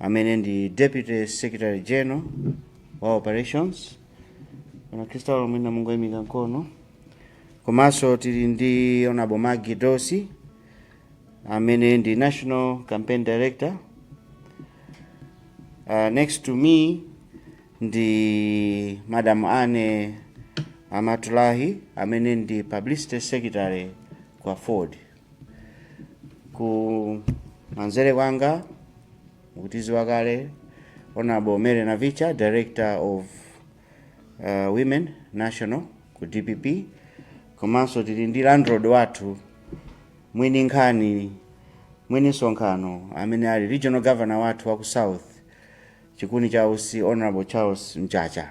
amene ndi deputy secretary general wa operations honorable Chris Thaulo mwina mungoyimika mkono komanso tili ndi honorable Maggie Dossi amene ndi national campaign director uh, next to me ndi madam Annie Amatullah amene ndi publicity secretary ku AFORD Kumanzere kwanga mukutiziwa kale Honorable Mary Navicha, Director of uh, Women National ku DPP, komanso tili ndi landlord wathu mwini nkhani mwini msonkhano amene ali regional governor wathu wa ku South chikuni cha usi Honorable Charles Mchacha.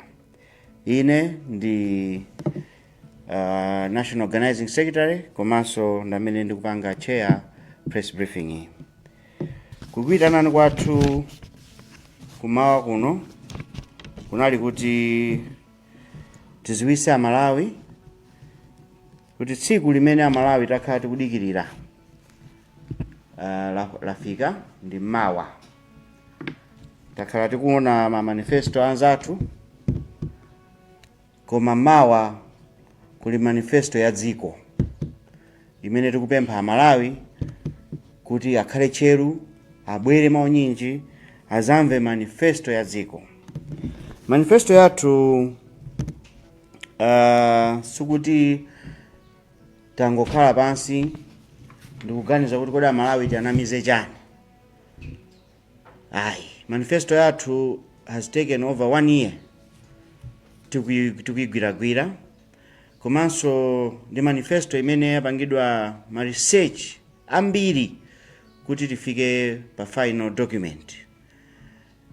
Ine ndi uh, national organizing secretary komanso ndamene ndikupanga chair press briefing iyi kukuitanani kwathu kumawa kuno kunali kuti tiziwise amalawi kuti tsiku limene amalawi takhala tikudikirira uh, la- lafika ndi mawa takhala tikuona ma manifesto anzathu Koma mawa kuli manifesto ya dziko imene tikupempha Amalawi kuti akhale tcheru, abwere mwaunyinji azamve manifesto ya dziko. Manifesto yathu uh, sikuti tangokhala pansi ndikuganiza kuti kodi Amalawi tianamize chani. Ayi, manifesto yathu has taken over one year tikuyi- tikuyigwiragwira komanso ndi manifesto imene yapangidwa ma research ambiri kuti tifike pa final document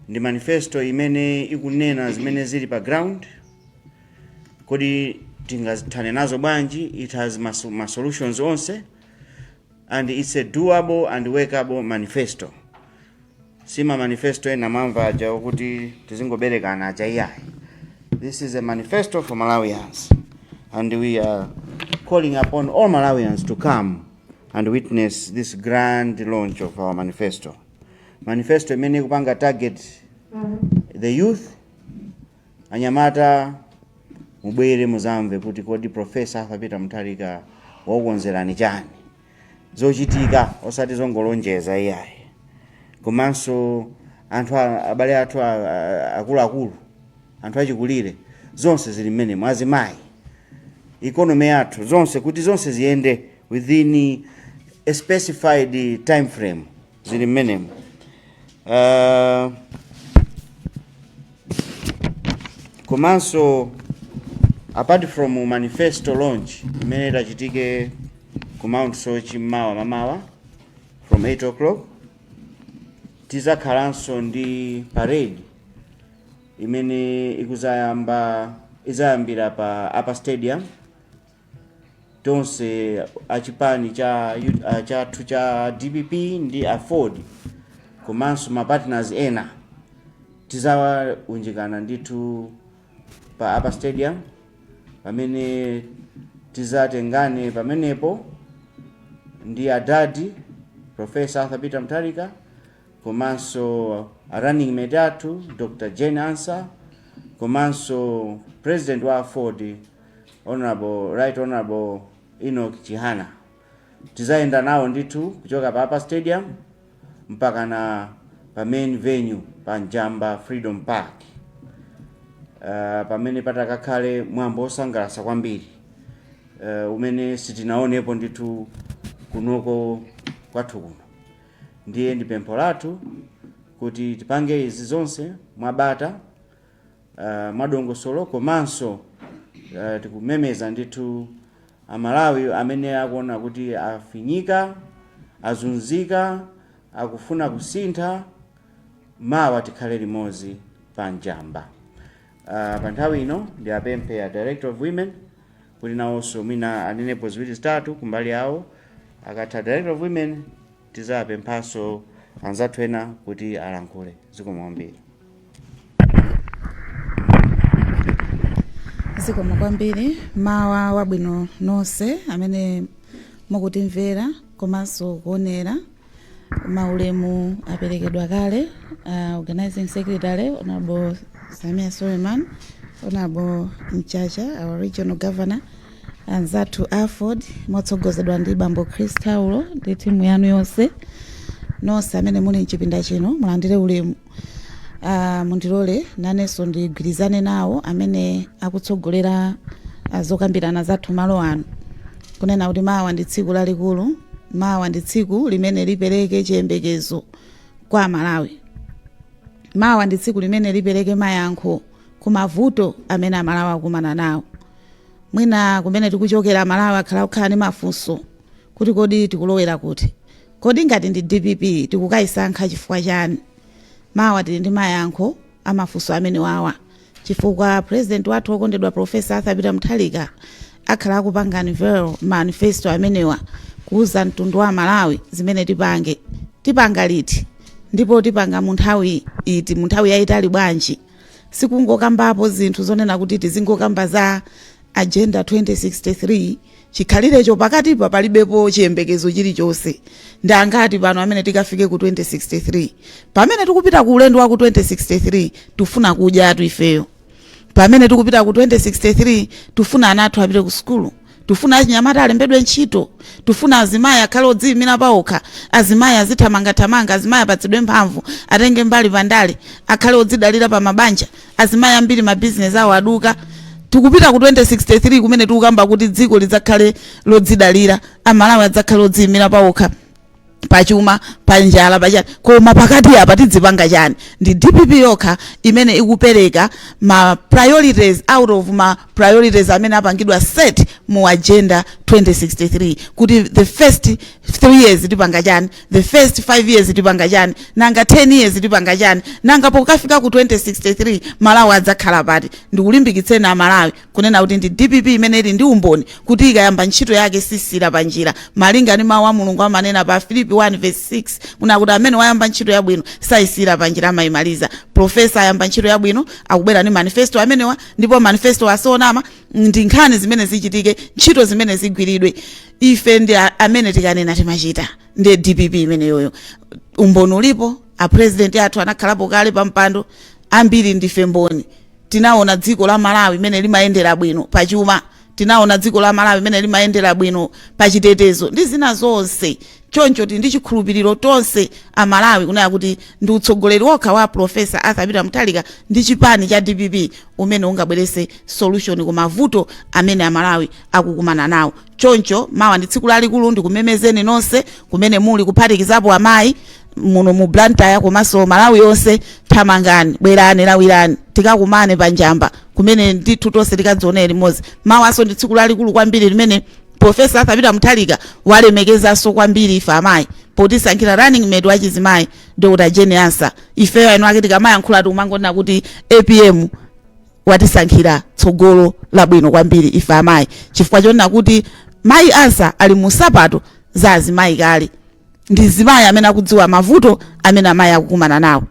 ndi manifesto imene ikunena zimene zili pa ground kodi tingazithane nazo bwanji it has ma, ma solutions onse and it's a doable and workable manifesto si ma manifesto ena mamva aja okuti tizingoberekana aja iyayi this is a manifesto for malawians and we are calling upon all malawians to come and witness this grand launch of our manifesto manifesto imene ikupanga target the youth Anyamata mubwere muzamve kuti kodi Professor Arthur Peter Mutharika wakukonzerani chani, zochitika osati zongolonjeza iyayi. Komanso anthu a- abale athu a- a- akuluakulu, anthu achikulire, zonse zili mmenemo, azimayi economy yathu zonse kuti zonse ziyende within a specified time frame zili mmenemo uh, komanso apart from manifesto launch imene itachitike ku mount soche mmawa mamawa from 8 o'clock tizakhalanso ndi parade imene ikuzayamba izayambira pa upper stadium Tonse a chipani cha uh, chathu cha dpp ndi aford komanso ma partners ena tizaunjikana ndithu pa upper stadium pamene tizatengane pamenepo ndi adadi professor arthur peter mutharika komanso a running mate athu dr jane ansah komanso president wa aford Honorable, Right Honorable Enoch Chihana tizayenda nawo ndithu kuchoka pa Upper Stadium mpakana pa main venue pa Njamba Freedom Park uh, pamene patakakhale mwambo osangalasa kwambiri uh, umene sitinaonepo ndithu kunoko kwathu kuno ndiye ndi pempho lathu kuti tipange izi zonse mwabata uh, mwadongosolo komanso uh, tikumemeza ndithu amalawi amene akuona kuti afinyika azunzika akufuna kusintha mawa tikhale limodzi pa njamba uh, pa nthawi ino ndiapemphe a director of women kuti nawonso mwina anenepo ziwiri zitatu kumbali yawo akatha director of women Tizawapemphanso anzathu ena kuti alankhule. Zikomo kwambiri. zikomo kwambiri mawa wabwino nonse amene mukutimvera komanso kuonera maulemu aperekedwa kale uh, organizing secretary honorable sameer suleman honorable mchacha our regional governor Anzathu a aford motsogozedwa ndi bambo Chris Taulo ndi timu yanu yonse nonse amene muli mchipinda chino mulandire ulemu uh, mundilole nanenso ndigwirizane nawo amene akutsogolera uh, zokambirana zathu malo ano kunena kuti mawa ndi tsiku lalikulu mawa ndi tsiku limene lipereke chiyembekezo kwa amalawi mawa ndi tsiku limene lipereke mayankho ku mavuto amene amalawi akumana nawo Mwina kumene tikuchokera Amalawi akhala akukhala ndi mafunso kuti kodi tikulowera kuti? Kodi ngati ndi dpp tikukayisankha chifukwa chani? Mawa tili ndi mayankho a mafunso amenewawa chifukwa President wathu wokondedwa Prof. Arthur Peter Mutharika akhala akupanga unveil manifesto amenewa kuwuza mtundu wa Amalawi zimene tipange. Tipanga liti? Ndipo tipanga munthawi iti? Munthawi yayitali bwanji? sikungokambapo zinthu zonena kuti tizingokamba za agenda 2063 chikhalirecho pakatipa palibepo chiyembekezo chilichonse ndi angati pano amene tikafike ku 2063 pamene tikupita ku ulendo wa ku 2063 tufuna kudyatu ifeyo pamene tikupita ku 2063 tufuna ana athu apite ku sukulu tufuna achinyamata alembedwe ntchito tufuna azimayi akhale odziyimira paokha azimayi azithamangathamanga azimayi apatsidwe mphamvu atenge mbali pandale akhale odzidalira pa mabanja azimayi ambiri mabizinesi awo aduka tikupita ku 2063 kumene tikukamba kuti dziko lidzakhale lodzidalira amalawi adzakhale odziyimira paokha pachuma panjala pachani koma pakati apa tidzipanga chani ndi dpp yokha imene ikupereka ma priorities out of ma priorities amene apangidwa set mu agenda 2063 kuti the first 3 years tipanga chani the first 5 years tipanga chani nanga 10 years tipanga chani nanga pokafika ku 2063 malawi adzakhala pati ndikulimbikitseni amalawi kunena kuti ndi dpp imene ili ndi umboni kuti ikayamba ntchito yake sisiira pa njira malinga ndi mawu a mulungu amanena pa filipi 1 verse 6 kunena kuti amene wayamba ntchito yabwino sayisiira pa njira amayimaliza profesa ayamba ntchito yabwino akubwera ndi manifesto amenewa ndipo manifesto osanama ndi nkhani zimene zichitike ntchito zimene zigwiridwe ife ndi a- amene tikanena timachita ndi dpp imeneyoyo umboni ulipo a president athu anakhalapo kale pa mpando ambiri ndife mboni tinaona dziko la malawi mene limayendera bwino pachuma tinaona dziko la malawi mene limayendera bwino pachitetezo ndi zina zonse choncho tili ndi chikhulupiriro tonse amalawi kunena kuti ndi utsogoleri wokha wa profesa arthur peter mutharika ndi chipani cha dpp umene ungabwerese solution ku mavuto amene amalawi akukumana nawo choncho mawa ndi tsiku lalikulu ndikumemezeni nonse kumene muli kuphatikizapo amayi muno mu blantyre komanso malawi yonse thamangani bwerani lawirani tikakumane pa njamba kumene ndithu tonse tikadzionere limodzi mawanso ndi tsiku lalikulu kwambiri limene profesa arthur peter mutharika walemekezanso kwambiri ife amayi potisankhira running mate wachizimayi dr jane ansah ifeyo eni ake tikamayankhula tikumangonena kuti apm watisankhira tsogolo labwino kwambiri ife amayi chifukwa chonena kuti mayi ansa ali mu nsapato za azimayi kale ndi mzimayi amene akudziwa mavuto amene amayi akukumana nawo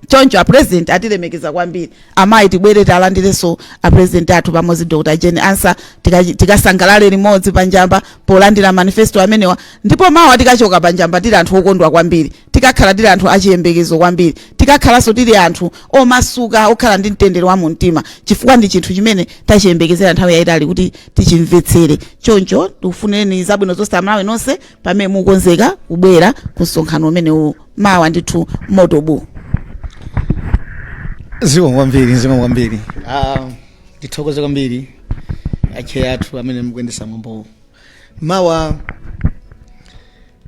choncho a president atilemekeza kwambiri amayi tibwere talandirenso a president athu pamodzi dr jane ansa tikasangalale limodzi panjamba polandira manifesto amenewa ndipo mawa tikachoka panjamba tili anthu okondwa kwambiri Tikakhala tili anthu achiyembekezo kwambiri, tikakhalanso tili anthu omasuka, okhala ndi mtendere wa mumtima chifukwa ndi chinthu chimene tachiyembekezera nthawi yaitali kuti tichimvetsere. Choncho tikufunireni zabwino zonse Amalawi nonse pamene mukukonzeka kubwera ku msonkhano umenewu mawa ndithu moto buu. Zikomo kwambiri, zikomo kwambiri. Ah, ndithokoze kwambiri acheya athu amene mukuyendesa mwambowu. Mawa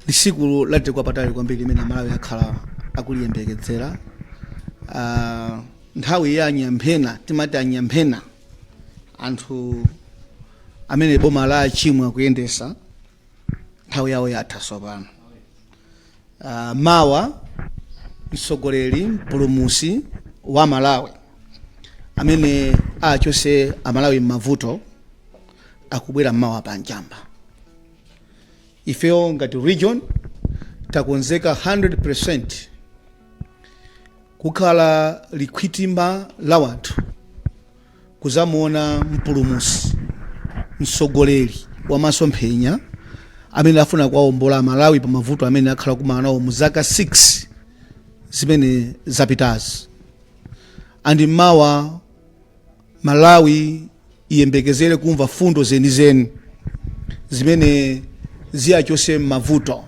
ndi tsiku la mtengo wapatali kwambiri limene amalawi akhala akuliyembekezera Ah, nthawi ya anyamphena timati anyamphena anthu amene boma la chimwe akuyendesa nthawi yawo yatha tsopano Ah, mawa mtsogoleri mpulumusi wa malawi amene achose amalawi m'mavuto akubwera mmawa pa njamba Ifeyo ngati region takonzeka 100% kukhala chikhwimbi la wanthu kuzamuona mpulumusi mtsogoleri wa masomphenya amene afuna kuwaombola amalawi pa mavuto amene akhala kumana nawo mu zaka 6 zimene zapitazi andi mmawa malawi iyembekezere kumva fundo zenizeni zimene ziyachose m'mavuto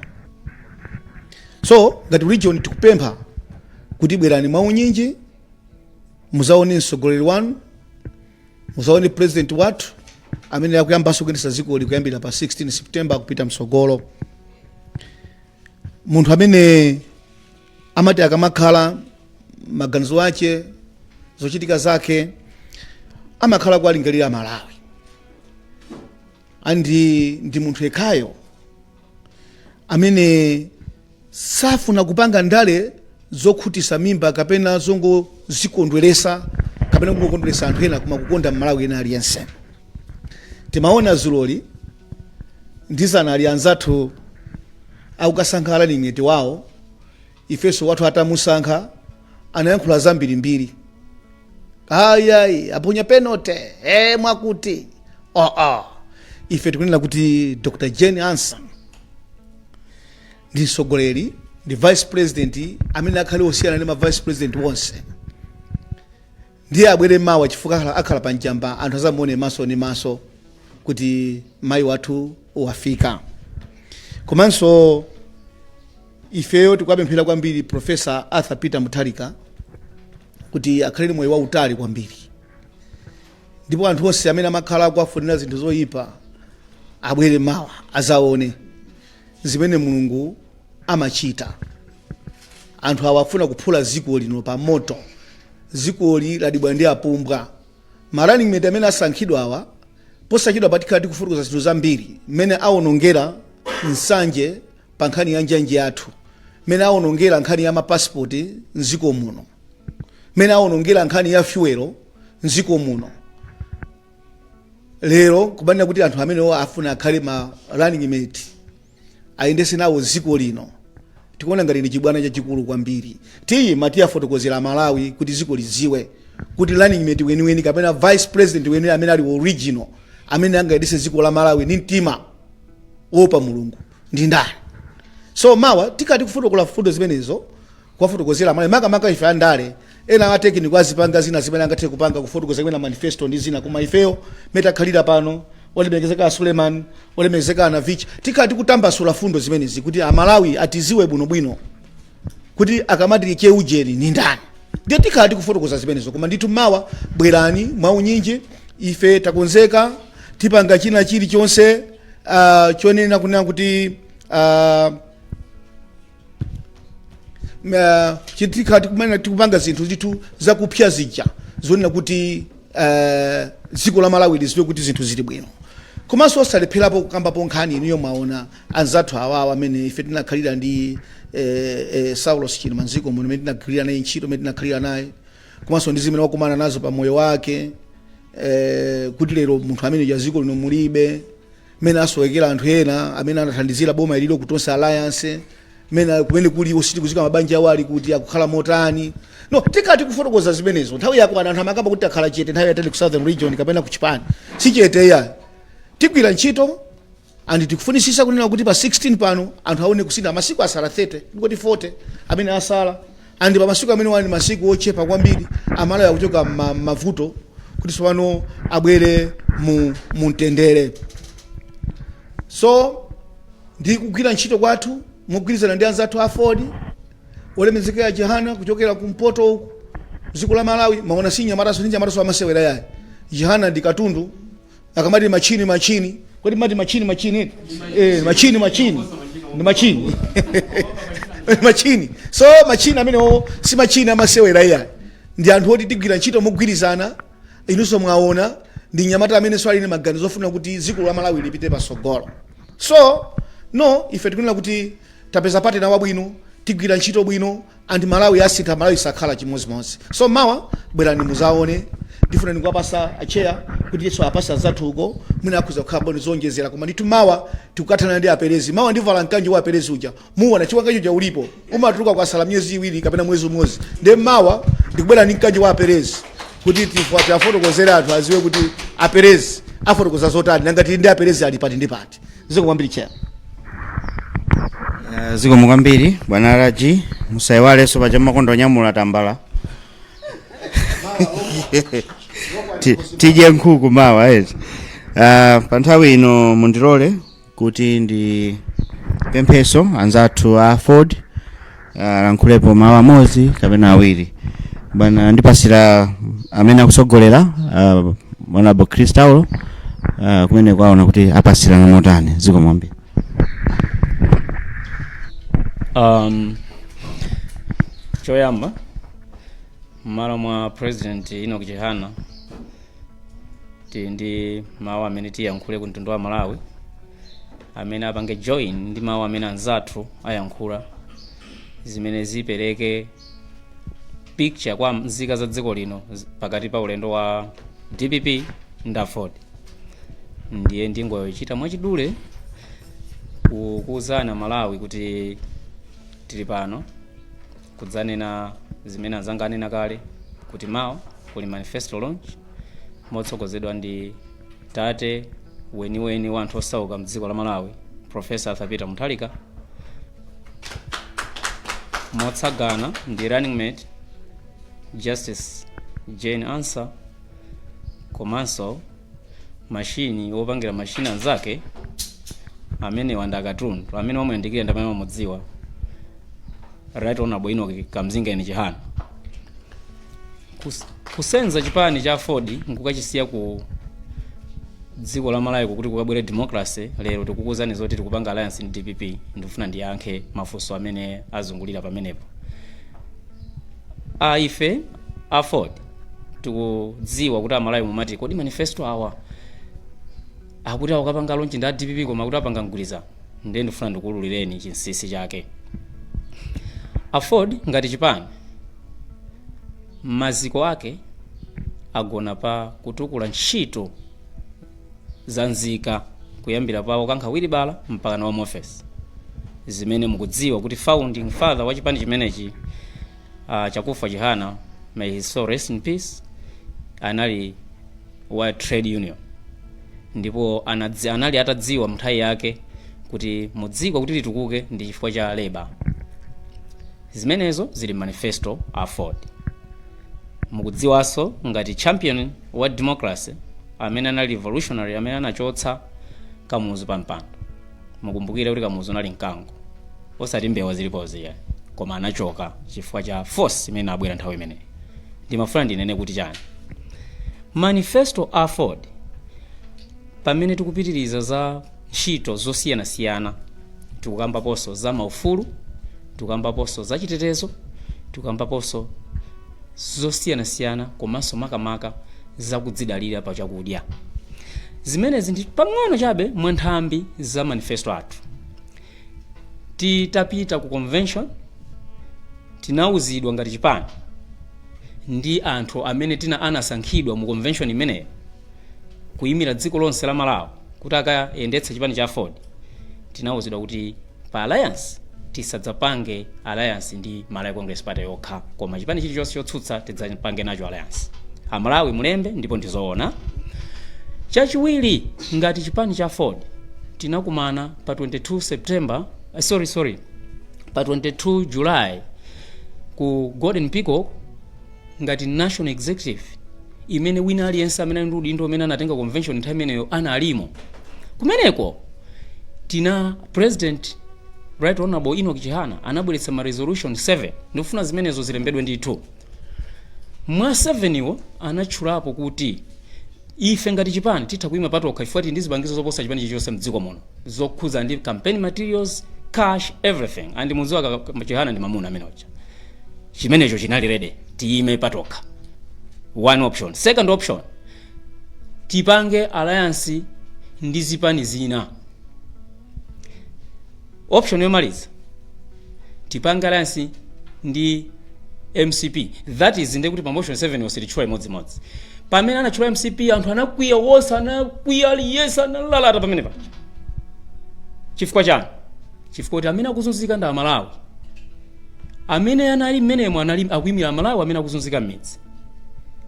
so ngati region tikupempha kuti bwerani mwaunyinji muzaone mtsogoleri wanu muzaone president wathu amene akuyambanso kuyendesa dzikoli kuyambira pa 16 september kupita mtsogolo munthu amene amati akamakhala maganizo ake zochitika zake amakhala kuwalingalira malawi andi ndi munthu yekhayo amene safuna kupanga ndale zokhutisa mimba kapena zongozikondweresa kapena kungokondweresa anthu ena koma kukonda mmalawi wina aliyense timaona dzuloli ndi dzana ali anzathu akukasankha running mate wawo ifenso wathu atamusankha anayankhula zambirimbiri ayayi aponya penote e mwakuti aa ife tikunena kuti dr jane ansa ndi mtsogoleri ndi vice president amene akhale osiyana ndi ma vice president onse Ndiye abwere mawa chifukwa akhala, akhala pa Njamba anthu azamuone maso ndi maso kuti mayi wathu wafika. Komanso ifeyo tikuwapempherera kwambiri Professor Arthur Peter Mutharika kuti akhale ndi moyo wautali kwambiri. Ndipo anthu onse amene amakhala akuwafunira zinthu zoyipa abwere mawa azaone zimene Mulungu amachita anthu awa afuna kuphula dziko lino pa moto dzikoli ladibwa ndi apumbwa ma running mate amene asankhidwa awa posachedwapa tikhala tikufotokoza zinthu zambiri mmene awonongera Nsanje pa nkhani ya njanji yathu mmene awonongera nkhani ya mapasipoti mdziko muno mmene awonongera nkhani ya fyuwelo mdziko muno lero kubanira kuti anthu amenewo afuna akhale ma running mate ayendese nawo dziko lino tikuona ngati ndi chibwana chachikulu kwambiri ndiye mawa tiwafotokozera amalawi kuti dziko lidziwe kuti running mate weniweni kapena vice president weniweni amene ali original amene angayendese dziko la malawi ndi mtima woopa mulungu ndi ndani so mawa tikhala tikufotokoza mfundo zimenezo kuwafotokozera amalawi makamaka ife andale Ena a tekiniko azipanga zina zimene angathe kupanga kufotokoza kwina manifesto ndi zina koma ifeyo mmene takhalira pano olemekezeka a Suleman olemekezeka a Navicha tikhala tikutambasula mfundo zimenezi kuti amalawi atiziwe bwino bwino kuti akamati cheujeni ni ndani ndiye tikhala tikufotokoza zimenezo koma ndithu mawa bwerani mwaunyinji ife takonzeka tipanga china chilichonse uh, chonena kunena kuti uh, Ma- chitika tikumene tikupanga zinthu ndithu zakupsa zija zonena kuti eh, dziko la malawi liziwe kuti zinthu zili bwino komanso osalepherapo kukambapo nkhani inuyo mwaona anzathu awawa amene ife tinakhalira ndi eh, eh, saulos chilima mdziko muno amene tinagwirira naye ntchito amene tinakhalira naye komanso ndi zimene wakumana nazo pa moyo wake eh, kuti lero munthu amene ja dziko lino mulibe mmene asowekera anthu ena amene anathandizira boma ililo ku Tonse Alliance mena kumene kuli sitikuziwa mabanja awo ali kuti akukhala motani no tikhala tikufotokoza zimenezo nthawi yakwana anthu amakamba kuti takhala chete nthawi yaitali ku southern region kapena ku chipani si chete yayi tigwira ntchito and tikufunisisa kunena kuti pa 16 pano anthu aone kusintha masiku asala 30 ngati 40 amene asala And pa masiku amenewa ndi masiku ochepa kwambiri amalawi akuchoka mma mmavuto kuti tsopano abwere mu mumtendere so ndi kugwira ntchito kwathu mogwirizana ndi anzathu a AFORD olemekezeka a Chihana kuchokera kumpoto uku dziko la malawi mwaona si mnyamataso ndi mnyamataso wamasewera yayi Chihana ndi katundu akamati machini machini kodi mati machini machini eti? eh, machini machini ndi machini machini so machini amenewo si machini amasewera iyayi ndi anthu oti tigwira ntchito mogwirizana inunso mwaona ndi nyamata ameneso ali ndi maganizo ofuna kuti dziko la malawi lipite pasogolo so no ife tikunena kuti tapeza partner wabwino tigwira ntchito bwino and malawi asintha malawi sakhala chimodzimodzi so mawa bwerani muzaone ndifuna ndingowapasa a chair kuti iyeso apase anzathu uko mwina akhoza kukhala bwino zoonjezera koma ndithu mawa tikukathana ndi aperezi mawa ndivala mkanjo wa aperezi uja muona chiwangacho cha ulipo umatuluka kwasala miyezi iwiri kapena mwezi umodzi nde mawa ndikubwera ndi mkanjo wa aperezi kuti tifotokozere anthu aziwe kuti aperezi afotokoza zotani nangati ndi aperezi ali pati ndi pati zikomo kwambiri chair Eh, zikomo kwambiri bwana alaji musayiwalenso paja mmakonda kunyamula tambala Ti- tidye nkhuku mawa eti Ah, pa nthawi ino mundilole kuti ndipempheso anzathu a aford alankhulepo mawu amodzi kapena awiri bwana ndipasira amene akutsogolera uh, honorable chris taulo uh, kumeneko aona kuti apasirana motani zikomo kwambiri um, choyamba mmalo mwa president enoch chihana tili ndi mawu amene tiyankhule ku mtundu wa malawi amene apange join ndi mawu amene anzathu ayankhula zimene zipereke picture kwa nzika za dziko lino z- pakati pa ulendo wa dpp ndi aford ndiye ndingochita mwachidule ku- kuwuza amalawi kuti tili pano kudzanena zimene anzanga anena kale kuti mawa kuli manifesto launch motsogozedwa ndi tate weniweni wa anthu osauka mdziko la malawi professor arthur peter mutharika motsagana ndi running mate justice jane ansah komanso mashini wopangira mashini anzake amenewa ndi akatundu amene wamuyandikira ndi amene wamudziwa right honorable enoch kamzingeni chihana Kus, kusenza chipani cha aford nkukachisiya ku dziko la malawi kuti kukabwere democracy lero tikukuuzani zoti tikupanga alliance ndi dpp ndifuna ndiyankhe mafunso amene azungulira pamenepo ife a aford tikudziwa kuti amalawi mumati kodi manifesto awa akuti akukapanga launch ndi a dpp koma akuti apanga mgwirizano ndiye ndifuna ndikuwululireni chinsisi chake aford ngati chipani maziko ake agona pa kutukula ntchito za nzika kuyambira pa wokankha wilibala mpakana wa mu ofesi zimene mukudziwa kuti founding father wa chipani chimenechi uh, chakufa chihana may his soul rest in peace anali wa trade union ndipo anadzi, anali atadziwa mnthawi yake kuti mudziko kuti litukuke ndi chifukwa cha labor Zimenezo zili mmanifesto a aford. Mukudziwaso ngati champion wa democracy amene anali revolutionary amene anachotsa kamuzu pa mpando. Mukumbukire kuti kamuzu anali mkango osati mbewa zilipozi iyayi koma anachoka chifukwa cha force imene inabwera nthawi imeneyi. Ndimafuna ndinene kuti chani. Manifesto a aford pamene tikupitiliza za. ntchito zosiyanasiyana. Tikukambaponso za maufulu, tikukambaponso za chitetezo, tikukambaponso zosiyanasiyana komanso makamaka za kudzidalira pa chakudya. Zimenezi ndi pang'ono chabe mwa nthambi za manifesto athu. Titapita ku convention, tinauzidwa ngati chipani ndi anthu amene tina anasankhidwa mu convention imeneyo kuyimira dziko lonse la Malawi kuti akayendetse chipani cha aford tinauzidwa kuti pa alliance tisadzapange alliance ndi malawi congress party yokha koma chipani chilichonse chotsutsa tidzapange nacho alliance amalawi mulembe ndipo ndizoona chachiwiri ngati chipani cha aford tinakumana pa 22 september eh, sorry sorry pa 22 july ku golden peacock ngati National Executive imene wina aliyense amene ali ndi udindo umene anatenga convention nthawi imeneyo analimo kumeneko tina president right honorable Enoch Chihana anabweretsa ma resolution 7 ndikufuna zimenezo zilembedwe ndithu mwa 7 iwo anatchulapo kuti ife ngati chipani titha kuima patokha chifukwa tili ndi zipangizo zoposa chipani chilichonse mdziko muno zokhuza ndi campaign materials cash everything and mudziwa ka- ka- chihana ndi mamuna amene uja chimenecho chinali ready tiyime patokha one option second option tipange alliance ndi zipani zina option yomaliza tipange alliance ndi mcp that is ndekuti pa motion 7 yonse itatchulidwa imodzimodzi pamene anatchula mcp anthu anakwiya wonse anakwiya aliyense analalata pamenepa chifukwa chani chifukwa kuti amene akuzunzika ndi amalawi amene anali mmenemo anali akuyimira amalawi amene akuzunzika mmidzi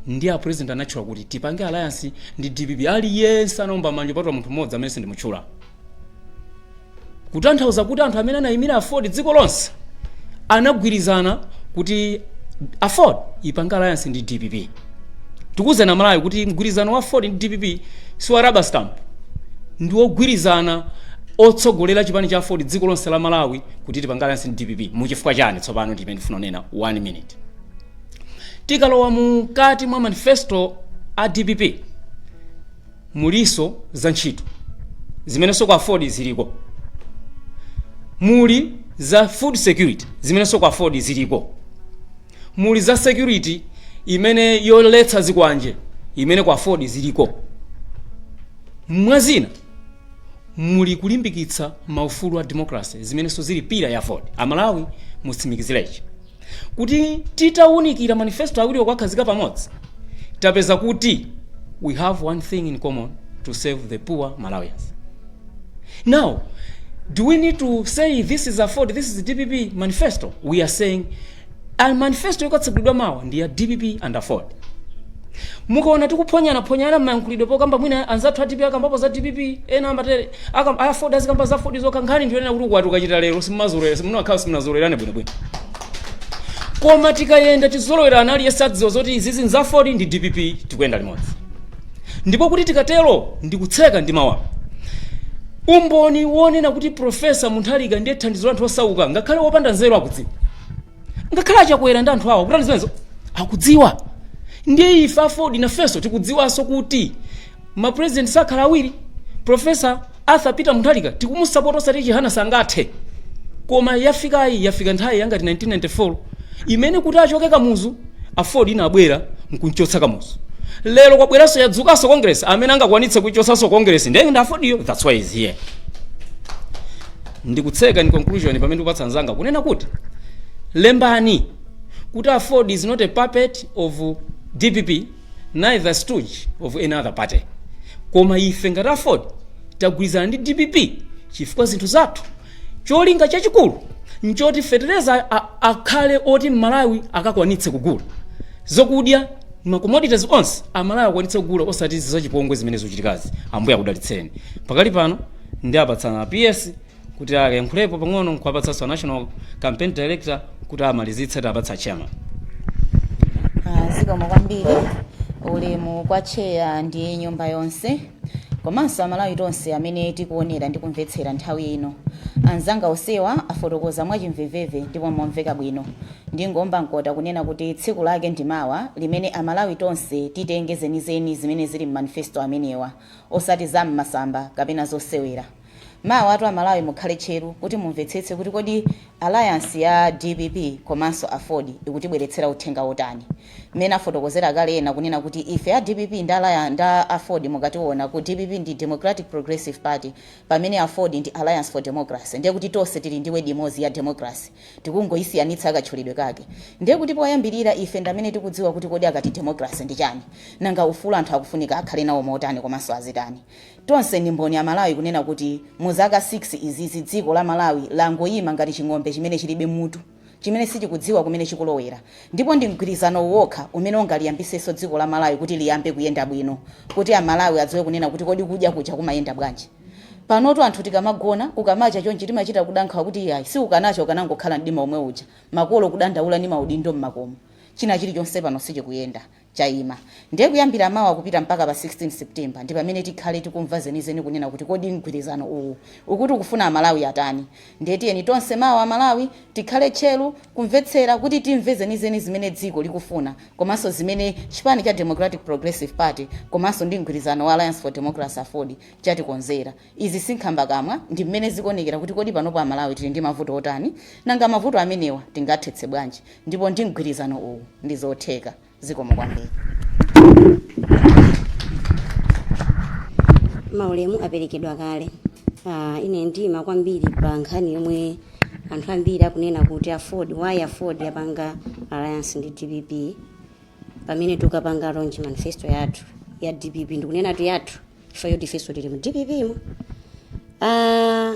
ndiye a president anatchula kuti tipange alliance ndi dpp aliyense anaomba manja patula munthu mmodzi amene sindimutchula kutanthauza kuti anthu amene anayimira aford dziko lonse anagwirizana kuti aford ipange alliance ndi dpp tikuwuza amalawi kuti mgwirizano wa aford ndi dpp si wa rubber stamp ndi wogwirizana otsogolera chipani cha aford dziko lonse la malawi kuti tipange alliance ndi dpp muchifukwa chani tsopano ndimene ndifuna kunena one minute tikalowa mukati mwa manifesto a dpp muliso za ntchito zimenenso kwa aford ziliko muli za food security zimenenso kwa aford ziliko muli za security imene yoletsa zikwanje imene kwa aford ziliko mwazina muli kulimbikitsa maufulu a democracy zimenenso zili pira ya aford amalawi mutsimikizirechi kuti titawunikira manifesto awiriwo kuwakhazika pamodzi tapeza kuti we have one thing in common to serve the poor malawians now do we need to say this is aford this is dpp manifesto we are saying A manifesto yokatsegulidwa mawa ndi ya dpp and aford mukaona tikuphonyanaphonyana mmayankhulidwe pokamba mwina anzathu a dpp akambapo za dpp ena amatere akam- aford azikamba za aford zokha nkhani ndiyonena kuti ukwati ukachita lero simumazolowera simunakhala simunazolowerane bwinobwino koma tikayenda tizolowerana aliyense adziwa zoti izizi nza aford ndi dpp tikuyenda limodzi ndipo kuti tikatero ndikutseka ndi mawa umboni wonena kuti profesa mutharika ndiye thandizo la anthu osauka ngakhale wopanda nzeru akudziwa ngakhale achakwera ndi anthu awo akutani zimenezo akudziwa ndiye ife aford nafenso tikudziwanso kuti mapresident sakhala awiri profesa Arthur Peter Mutharika tikumusapota osati chihana sangathe koma yafikayi yafika nthawi yangati 1994 imene kuti achoke kamuzu aford inabwera nkunchotsa kamuzu lero kwabweranso yadzukanso congress amene angakwanitse kuchotsanso congress ndiye ndi aford yo that's why it's here ndikutseka in conclusion pamene ndikupatsa nzanga kunena kuti lembani kuti aford is not a puppet of dpp neither stooge of any other party koma ife ngati aford tagwirizana ndi dpp chifukwa zinthu zathu cholinga chachikulu nchoti fetereza akhale oti mmalawi akakwanitse kugula zokudya macommodities onse amalawi akwanitse kugula osati zachipongwe zimene zikuchitikazi ambuye akudalitseni pakali pano ndiapatsa a ps kuti ayankhulepo pang'ono nkuwapatsanso a national campaign director kuti amalizitse tapatsa chairman Ah, zikomo kwambiri ulemu kwa cheya ndi nyumba yonse komanso amalawi tonse amene tikuonera ndi kumvetsera nthawi ino anzanga osewa afotokoza mwachimveveve ndipo momveka bwino ndingoomba mkota kunena kuti tsiku lake ndi mawa limene amalawi tonse titenge zenizeni zimene zili m'manifesto amenewa osati za m'masamba kapena zosewera Mawatu amalawi mukhale tcheru kuti mumvetsetse kuti kodi alliance ya dpp komanso aford ikutibweretsera uthenga otani. Mmene afotokozera kale ena kunena kuti ife a dpp nda aford mukationa ku dpp ndi Democratic Progressive Party pamene aford ndi Alliance for Democracy ndekuti tonse tili ndi word imodzi ya Democracy tikungoisiyanitsa katchulidwe kake ndekuti poyambirira ife ndamene tikudziwa kuti kodi akati Democracy ndi chani nanga ufulu anthu akufunika akhale nawo motani komanso azitani. Tonse ndi mboni amalawi kunena kuti mu zaka 6 izizi dziko la Malawi langoima ngati ching'ombe chimene chilibe mutu chimene sichikudziwa kumene chikulowera ndipo ndi mgwirizanowu wokha umene ungaliyambitsenso dziko la Malawi kuti liyambe kuyenda bwino kuti amalawi adziwe kunena kuti kodi kudya kuja kumayenda bwanji panotu anthu tikamagona kukamacha chonchi timachita kuda nkhawa kuti iyayi si ukanacha ukanangokhala mdima omwe uja makolo kudandaula ndi maudindo mmakomo china chilichonse pano sichikuyenda chaima. Ndiye kuyambira mawa kupita mpaka pa 16 September ndi pamene tikhale tikumva zenizeni kunena kuti kodi mgwirizano uwu ukuti ukufuna Amalawi atani. Ndiye tiyeni tonse mawa Amalawi tikhale tcheru kumvetsera kuti timve zenizeni zimene dziko likufuna komanso zimene chipani cha Democratic Progressive Party komanso ndi mgwirizano wa Alliance for Democracy, aford, chatikonzera. Izi si nkhambakamwa, ndi mmene zikuonekera kuti kodi panopa Amalawi tili ndi mavuto otani, nanga mavuto amenewa tingathetse bwanji, ndipo ndi mgwirizano uwu ndi zotheka. Zikomo kwambiri. Maulemu aperekedwa kale. Aaa ine ndiima kwambiri pa nkhani yomwe anthu ambiri akunena kuti aford, why aford yapanga alliance ndi dpp? pamene tukapanga launch manifesto yathu ya dpp ndikunenatu yathu chifukwa choti ifenso tili mu dpp mu Ah,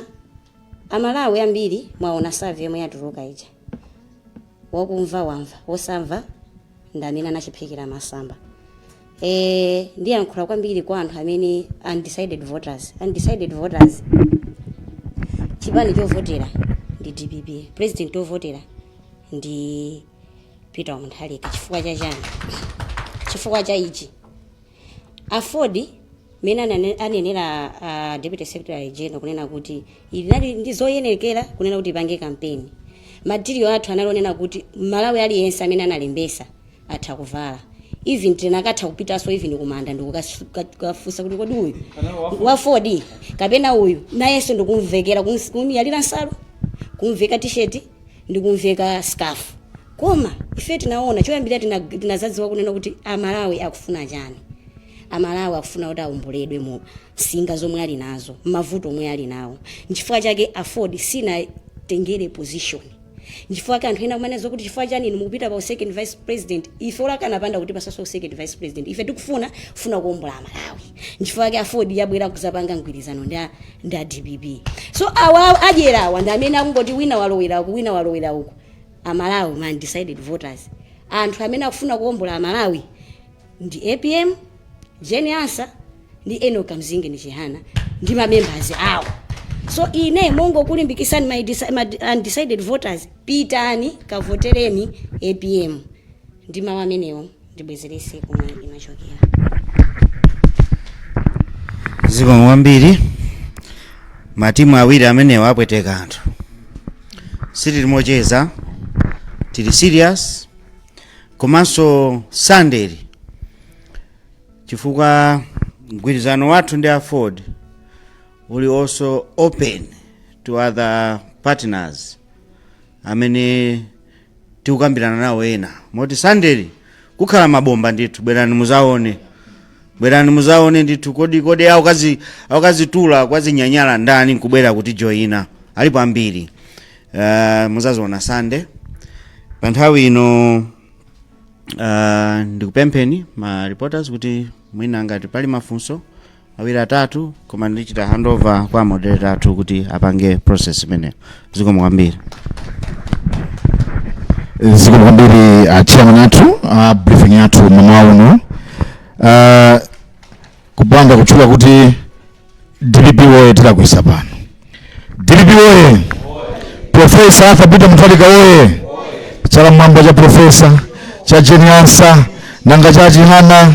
amalawi ambiri mwaona survey yomwe yatuluka ija wakumva wamva wosamva ndi amene anachiphikira masamba e, ndiyankhula kwambiri kwa anthu amene undecided voters undecided voters chipani chovotera ndi dpp president ovotera ndi peter mutharika chifukwa cha chani chifukwa cha ichi aford mmene anane- anenera uh, deputy secretary general kunena kuti inali ndi zoyenekera kunena kuti ipange kampeni matiriyo athu anali onena kuti malawi aliyense amene analembesa atha kuvala iveni tinakatha kupitaso even kumanda ndikukafunsa kuti kodi uyu wa aford kapena uyu nayenso ndikumvekera kumuyalira nsalu kumveka tisheti ndi kumveka scarf koma ife tinaona choyambirira tina- tinazadziwa kunena kuti amalawi akufuna chani amalawi akufuna kuti aomboledwe mu msinga zomwe ali nazo mavuto omwe ali nawo nchifukwa chake aford sinatengere position nchifukwa ke anthu ena kumanenazo kuti chifukwa chani inu mukupita pa second vice president ife olo akanapanda kutipasaso second vice president ife tikufuna funa kuombola amalawi nchifukwa ke aford yabwera kuzapanga mgwirizano ndi a- ndi a dpp so awa adyerawa ndi amene akungoti wina walowera uku wina walowera uku amalawi ma undecided voters anthu amene akufuna kuwombola amalawi ndi apm jeni ansa ndi enoch kamzingeni chihana ndi ma members awo so ine nongokulimbikisani ma indeci- ma undecided voters pitani kavotereni apm ndi mawu amenewo ndibwezerese komwe inachokera zikomo kwambiri matimu awiri amenewa apweteka anthu sitili mocheza tili serious komanso sandeli chifukwa mgwirizano wathu ndi aford uli also open to other partners amene tikukambirana nawo ena moti sandeli kukhala mabomba ndithu bwerani muzaone bwerani muzaone ndithu kodi kodi awo akazitula kwa zinyanyala ndani nkubwera kutijoina alipo ambiri uh, muzaziona sande pa nthawi ino uh, ndikupempheni ma reporters kuti mwina ngati pali mafunso awiri atatu koma ndichita handover kwa moderator athu kuti apange process imeneyo zikomo kwambiri zikomo kwambiri uh, chairman athu uh, briefing yathu mamawa uno uh, kupanda kutchula kuti dpp oye tilakwisa pano dpp oye profesa arthur peter mutharika oye chala mwamba cha profesa cha jeni ansa nanga cha chihana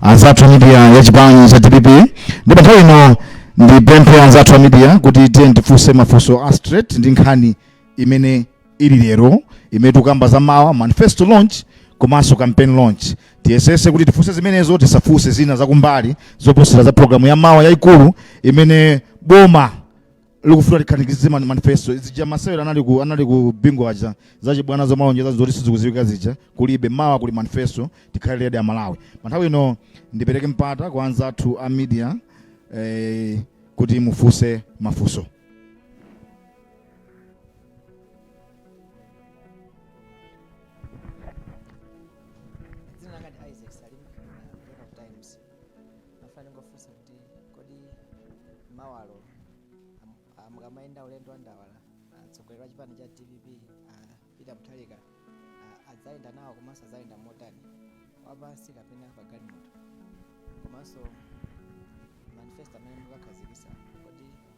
anzathu a media ya chipani cha dpp ndi pa nthawi ino ndipemphe anzathu a media kuti tiyeni tifunse mafunso a straight ndi nkhani imene ili lero imene tikukamba za mawa manifesto launch komanso campaign launch tiyesese kuti tifunse zimenezo tisafunse zina zakumbali zoposera za programu ya mawa yayikulu imene boma likufuna likhazikitse mani manifesto zija masewera anali ku anali ku bingu aja zachibwana zomalonjeza zoti sizikuziwika zija kulibe mawa kuli manifesto tikhale ready aMalawi panthawi ino ndipereke mpata kwa anzathu a media eh, kuti mufunse mafunso amafuna kungofunsa kuti kodi mawalo am- mukamaenda ulendo wa ndawala atsogoleri wa chipani cha dpp ah, peter mutharika ah, adzayenda nawo komanso adzayenda motani wapansi kapena pagalimoto komanso manifesto amene mukakhazikisa kodi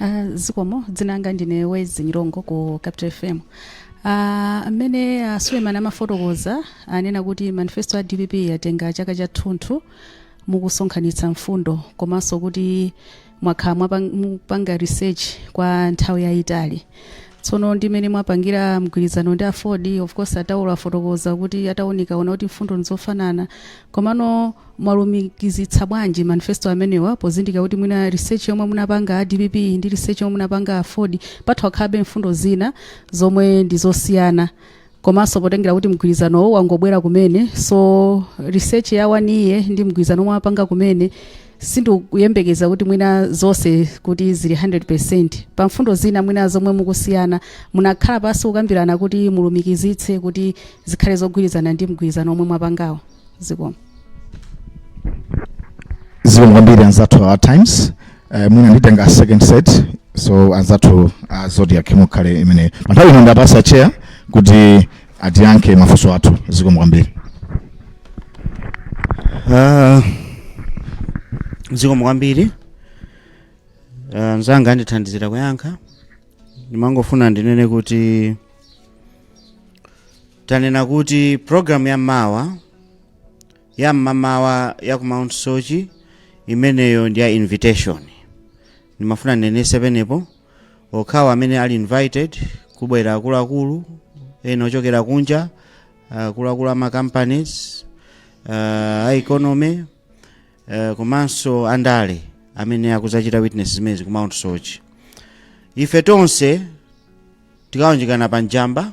Ah, zikomo dzinanga ndine wezi nyirongo ku capital fm Ah, mmene a suleman amafotokoza anena kuti manifesto ya dpp yatenga chaka chathunthu mukusonkhanitsa mfundo komanso kuti mwakhala mwapang- mupanga research kwa nthawi yayitali tsono ndimene mwapangira mgwirizano ndi aford of course a chaulo afotokoza kuti ataunika aona kuti mfundo ndizofanana komano mwalumikizitsa bwanji manifesto amenewa pozindikira kuti mwina research yomwe munapanga a dpp ndi research yomwe munapanga aford patha kukhalabe mfundo zina zomwe ndi zosiyana komanso potengera kuti mgwirizanowo wangobwera kumene so research ya one year ndi mgwirizano omwe mwapanga kumene sindikuyembekeza kuti mwina zonse kuti zili 100 pa mfundo zina mwina zomwe mukusiyana munakhala pansi kukambirana kuti mulumikizitse kuti zikhale zogwirizana ndi mgwirizano omwe mwapangawo zikomo zikomo kwambiri anzathu a times uh, mwina nditenga second set so anzathu a zodiak mukhale imene pa nthawi ino ndapasa chair kuti atiyankhe mafunso athu zikomo kwambiri Ah, zikomo kwambiri Ah, anzanga andithandizira kuyankha ndimangofuna ndinene kuti tanena kuti programu ya mawa ya mmamawa ya ku mount soche imeneyo ndi ya invitation ndimafuna ndinenese penepo okhawo amene ali invited kubwera akuluakulu ena ochokera kunja akuluakulu ama companies uh, a economy uh, komanso andale amene akuzachita witness zimenezi ku mount soche ife tonse tikaunjikane pa njamba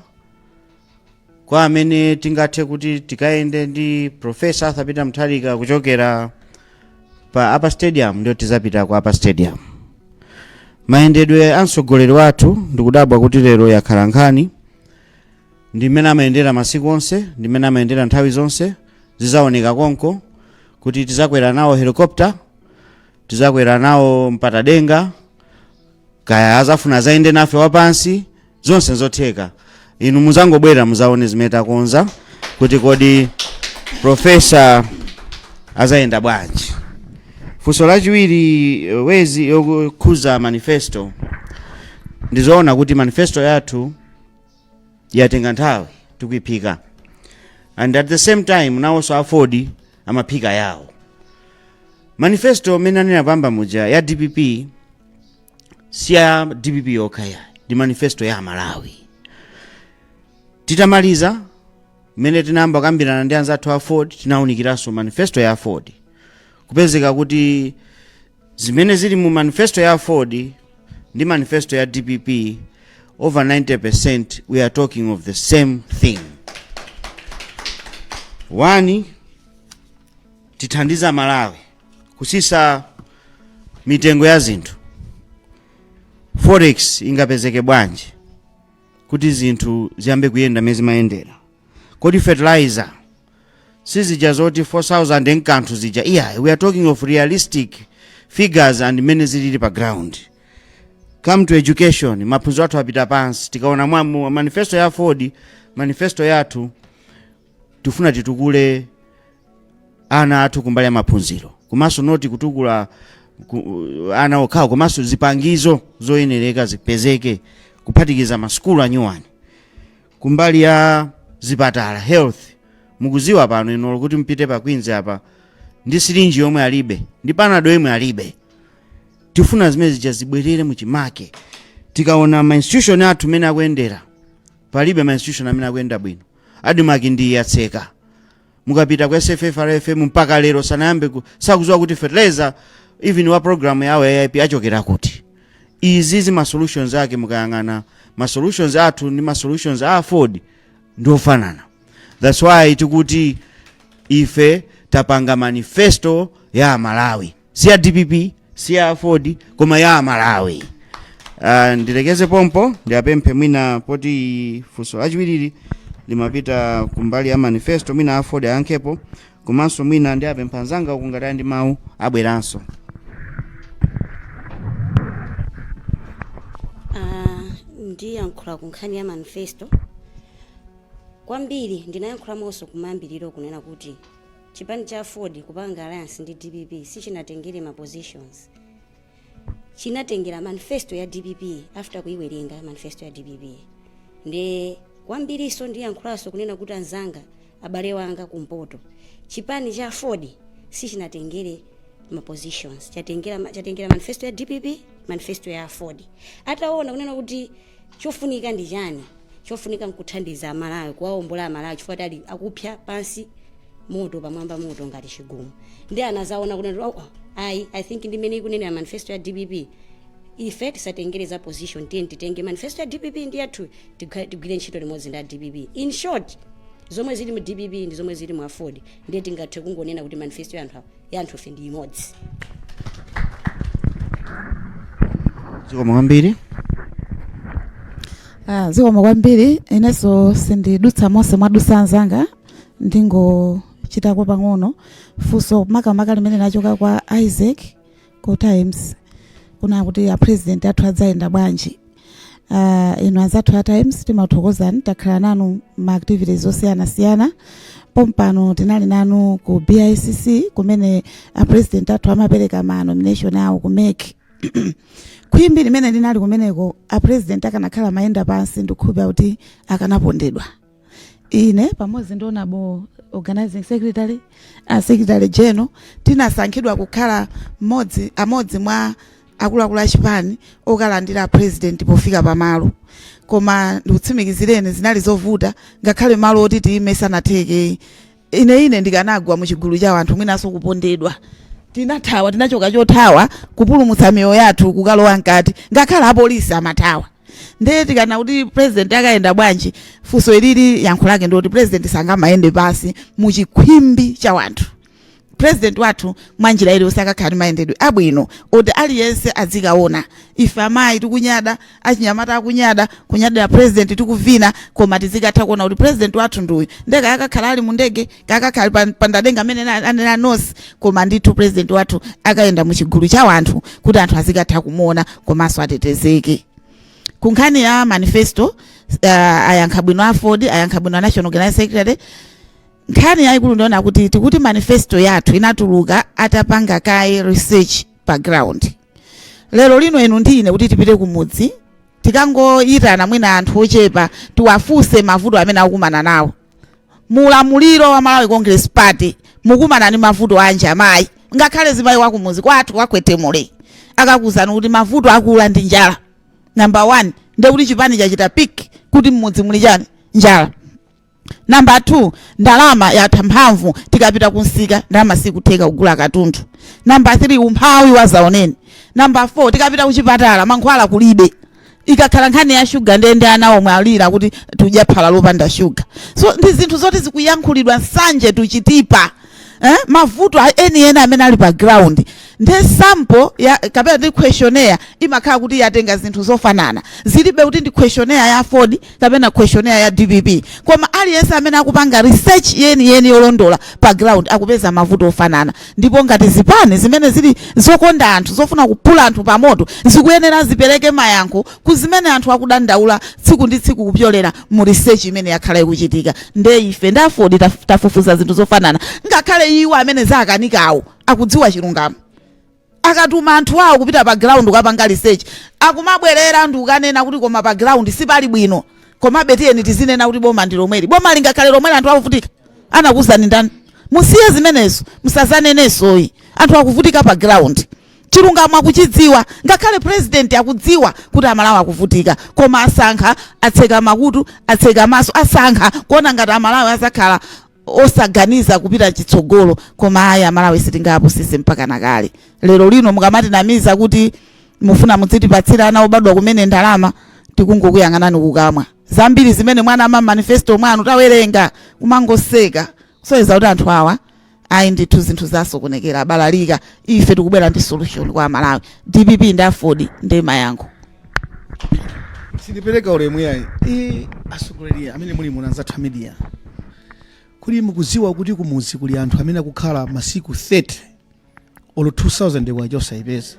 kwa amene tingathe kuti tikayende ndi profesa arthur peter mutharika kuchokera pa upper stadium ndio tizapita ku upper stadium mayendedwe a mtsogoleri wathu ndikudabwa kuti lero yakhala nkhani ndi mmene amayendera masiku onse ndi mmene amayendera nthawi zonse zizaoneka konko kuti tizakwera nawo helicopter tizakwera nawo mpatadenga kaya azafuna azayende nafe wapansi zonse nzotheka inu muzangobwera muzaone zimene takonza kuti kodi profesa azayenda bwanji funso lachiwiri eh, wezi yokhuza manifesto ndizoona kuti manifesto yathu yatenga nthawi tikuiphika and at the same time nawonso aford amaphika yawo manifesto amene anena poyamba muja ya dpp si ya dpp yokha ya ndi manifesto ya amalawi titamaliza mmene tinayamba kambirana ndi anzathu a aford tinawunikiranso manifesto ya aford kupezeka kuti zimene zili mu manifesto ya aford ndi manifesto ya dpp over 90% we are talking of the same thing one tithandiza amalawi kusisa mitengo ya zinthu forex ingapezeke bwanji kuti zinthu ziyambe kuyenda mmene zimayendera Kodi fertilizer sizija zoti 4000 ndi kanthu zija iyayi we are talking of realistic figures and mmene zilili pa ground come to education maphunziro athu apita pansi tikaona mwa mu- manifesto ya aford manifesto yathu tifuna titukule ana athu kumbali ya maphunziro komanso noti kutukula ku, ana okhawo komanso zipangizo zoyenereka zipezeke kuphatikiza masukulu anyuwani kumbali ya zipatala health mukuziwa pano ino kuti mpite pa Queens apa ndi sirinji yomwe alibe ndi panado yomwe alibe tifuna zimene zija zibwerere mu chimake tikaona ma institution athu mene akuyendera palibe ma institution amene akuyenda bwino admarc ndi yatseka mukapita ku sffrfm mpaka lero sanayambe ku- sakuziwa kuti fertilizer even wa program yawo ya aip achokera kuti izizi ma solutions ake mukayang'ana ma solutions athu ndi ma solutions a aford ndi ofanana that's why tikuti ife tapanga manifesto ya amalawi si ya dpp si ya aford koma ya amalawi uh, ndilekeze pompo ndiapemphe mwina poti funso lachiwirili limapita kumbali ya manifesto mwina aford ayankhepo komanso mwina ndiapempha anzanga uku ngati ali ndi mawu abweranso Ah, ndiyankhula ku nkhani ya manifesto kwambiri ndinayankhulamonso kumayambiriro kunena kuti Chipani cha aford kupanga alliance ndi dpp sichinatengere ma positions. Chinatengera manifesto ya dpp after kuiwerenga manifesto ya dpp. Nde kwambiriso ndiyankhulaso kunena kuti anzanga abale wanga kumpoto. Chipani cha aford sichinatengere ma positions. Chatengera chatengera manifesto ya dpp manifesto ya aford. Ataona kunena kuti Chofunika ndi chani? Chofunika nkuthandiza Amalawi, kuwaombola Amalawi chifukwa choti ali akupsa pansi moto pamwamba moto ngati chigumu. Nde anazaona kunena kuti oh oh ayi I think ndi mmene ikunenera manifesto ya dpp ife tisatengere za position tiyeni titenge manifesto ya dpp ndi yathuyi tigwa- tigwire ntchito limodzi ndi a dpp. In short zomwe zili mu dpp ndi zomwe zili mu aford ndiye tingathe kungonena kuti manifesto ya anthu awa yanthufe ndi imodzi zikomo kwambiri Ah, zikomo kwambiri inenso sindidutsa monse mwadutsa anzanga ndingochitako pang'ono funso makamaka limene lachoka kwa isaac ku times kuna kuti a president athu adzayenda bwanji uh, inu anzathu a times timathokozani takhala nanu ma activities osiyanasiyana pompano tinali nanu ku bicc kumene a president athu amapereka ma nomination awo ku mec khwimbi limene linali kumeneko a president akanakhala amayenda pansi ndikukhulupira kuti akanapondedwa ine pamodzi ndi honorable organizing secretary a secretary general tinasankhidwa kukhala mmodzi amodzi mwa akuluakulu a chipani okalandira president pofika pamalo koma ndikutsimikizireni zinali zovuta ngakhale malo oti tiyime sanatheke ine ine ndikanagwa mu chigulu cha anthu mwinanso kupondedwa tinathawa tinachoka chothawa kupulumutsa miyoyo yathu kukalowa mkati ngakhale apolisi amathawa ndiye tikana kuti president akayenda bwanji funso ilili yankho lake ndikuti president sangamayende pasi mu chikhwimbi cha wanthu president wathu mwanjira iliyonse akakhala ndi mayendedwe abwino oti aliyense adzikaona ife amayi tikunyada achinyamata akunyada kunyadira president tikuvina koma tizikatha kuona kuti president wathu ndi uyu nde kaya akakhala ali mu ndege kaya akakhala ali pa- pa ndadenga amene na- anena anonse koma ndithu president wathu akayenda mu chigulu cha wanthu kuti anthu azikatha kumuona komanso atetezeke ku nkhani ya manifesto uh, ayankha bwino aford ayankha bwino a national organizing secretary nkhani yayikulu ndi yonena kuti tikuti manifesto yathu inatuluka atapanga kaye research pa ground lero lino inu ndi ine kuti tipite kumudzi tikangoyitana mwina anthu ochepa tiwafunse mavuto amene akukumana nawo mu ulamuliro wa malawi congress party mukumana ndi mavuto anji amayi ngakhale zimayi wakumudzi kwathu kwa Kwetemule akakuuzani kuti mavuto akula ndi njala number one ndekuti chipani chachita pick kuti mmudzi muli chani njala Number 2, ndalama yatha mphamvu tikapita kumsika ndalama sikutheka kugula katundu. Number 3, umphawi wazaoneni. Number 4, tikapita kuchipatala mankhwala kulibe. Ikakhala nkhani ya shuga ndiye ndi ana omwe alira kuti tudya phala lopanda shuga. So ndi zinthu zoti zikuyankhulidwa nsanje tuchitipa. eh, mavuto enieni amene ali pa ground nde sample ya kapena ndi questionnaire imakhala kuti yatenga zinthu zofanana zilibe kuti ndi questionnaire ya Aford kapena questionnaire ya DPP koma aliyense amene akupanga research yeni yeni yolondola pa ground akupeza mavuto ofanana ndipo ngati zipani zimene zili zokonda anthu zofuna kupula anthu pamoto zikuyenera zipereke mayankho ku zimene anthu akudandaula tsiku ndi tsiku kupyolera mu research imene yakhala ikuchitika nde ife ndi aford taf- tafufuza zinthu zofanana ngakhale iwo amene zakanikawo akudziwa chilungamo akatuma anthu awo kupita pa ground kukapanga research akumabwerera ndi kukanena kuti koma pa ground sipali bwino komabe tiyeni tizinena kuti boma ndi lomweli boma lingakhale lomweli anthu akuvutika anakuwuzani ndani musiye zimenezo musazanenenso ayi anthu akuvutika pa ground Chilungamo akuchidziwa ngakhale president akudziwa kuti amalawi akuvutika koma asankha atseka makutu atseka maso asankha kuona ngati amalawi azakhala osaganiza kupita chitsogolo koma ayi amalawi sitingapusitsidwe mpaka nakale lero lino mukamatinamiza kuti mufuna mudzitipatsira ana obadwa kumene ndalama tikungokuyang'anani kukamwa zambiri zimene mwanama mmanifesto mwanu tawerenga kumangoseka kusonyeza kuti anthu awa ayi ndithu zinthu zasokonekera abalalika ife tikubwera ndi solution kwa amalawi dpp ndi aford ndi mayankho sindipereka ulemu yayi i atsogoleri amene muli muno anzathu a media kodi mukuziwa kuti kumuzi kuli anthu amene akukhala masiku 30 olo 2000 kwacha osayipeza